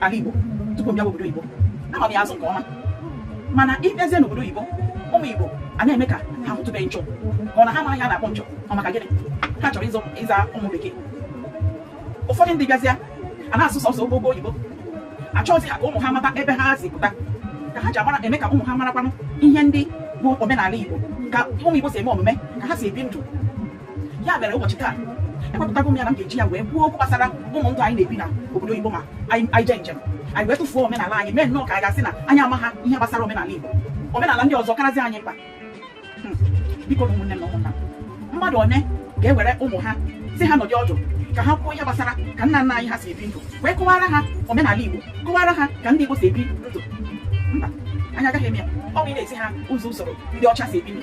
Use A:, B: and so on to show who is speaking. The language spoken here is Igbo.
A: ala Igbo tupu m bịa obodo oyibo ama m ya azụ nke ọma mana ịbịazie n'obodo oyibo ụmụ Igbo a na-eme ka ha hụtụbeghị nchọ ka ọ na ha mara ihe a na-akpọ nchọ ọ maka gịnị ha chọrọ ịzọ ịza ụmụ bekee ụfọdụ ndị bịazịa a na-asụ sọsọ ogogo oyibo achọghịzi ha ka ụmụ ha mata ebe ha si pụta ka ha ji amara eme ka ụmụ ha marakwanụ ihe ndị bụ omenala Igbo ka ụmụ Igbo si eme omume ka ha si ebi ndụ ya mere ụbọchị taa ewepụtago m ya na m ga-eji ya wee kwuo okwu gbasara ụdị ndụ anyị na-ebi na obodo oyibo ma anyị jee njem anyị wee tụfuo omenala anyị mee nnọọ ka anyị ga-asị na anyị amaha ihe gbasara omenala igbo omenala ndị ọzọ karazi anyị mkpa hmm. bikonu ụmụnne m na ụmụnna m mmadụ one ga-ewere ụmụ ha sị ha nọdị ọdụ ka ha kwuo ihe gbasara ka nna nna anyị ha si ebi ndụ wee kọwara ha omenala igbo kọwara ha ka ndị igbo si ebi ndụ mba anyị agaghị eme ya ọ bụ ị na-ezi ha ụzọ usoro ndị ọcha si ebi ndụ